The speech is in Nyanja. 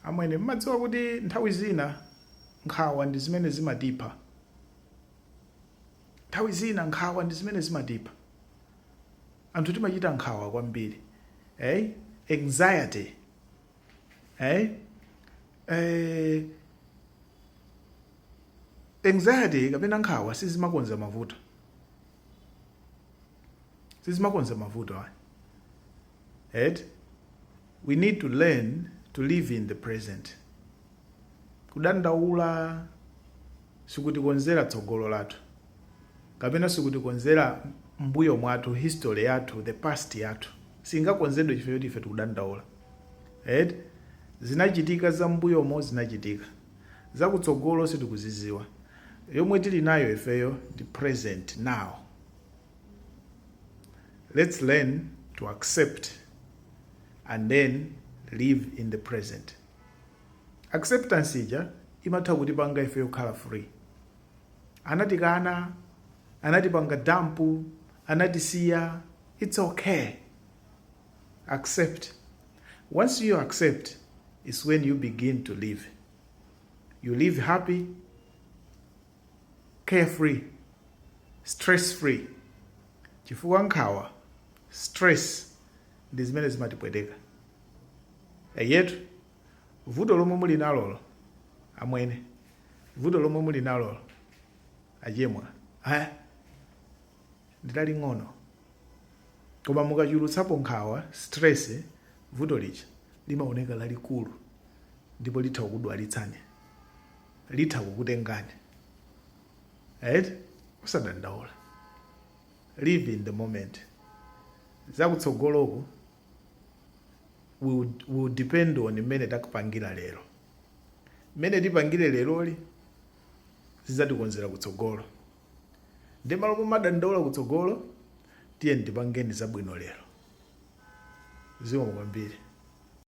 Amwene, m'madziwa kuti nthawi zina nkhawa ndi zimene zimatipha? Nthawi zina nkhawa ndi zimene zimatipha. Anthu timachita nkhawa kwambiri. Ey? Anxiety. Ey? Eh, anxiety kapena nkhawa sizimakonza mavuto. Sizimakonza mavuto ayi. eti we need to learn to live in the present kudandaula sikutikonzera tsogolo lathu kapena sikutikonzera m'mbuyo mwathu history yathu the past yathu singakonzedwe chifukwa choti ife tikudandaula eti zinachitika za mbuyomo zinachitika zakutsogolo sitikuziziwa yomwe tili nayo ifeyo ndi present now Let's learn to accept and then live in the present. Acceptance ija imatha kutipanga ife yokhala free. Anatikana, anatipanga dampu, anatisiya, it's okay. Accept. Once you accept, is when you begin to live. You live happy, carefree, stress-free chifukwa nkhawa, stress, ndi zimene zimatipweteka. Eyetu, vuto lomwe muli nalolo amwene, vuto lomwe muli nalolo achemwa, aya ndilaling'ono koma mukachulutsapo nkhawa, stress, vuto lija limaoneka lalikulu ndipo litha kukudwalitsani. litha kukutengani right usadandaula live in the moment zakutsogoloku will depend on mmene tapangira lero mmene tipangire leroli zidzatikonzera kutsogolo nde m'malo momadandaula kutsogolo tiyeni tipangeni zabwino lero zikomo kwambiri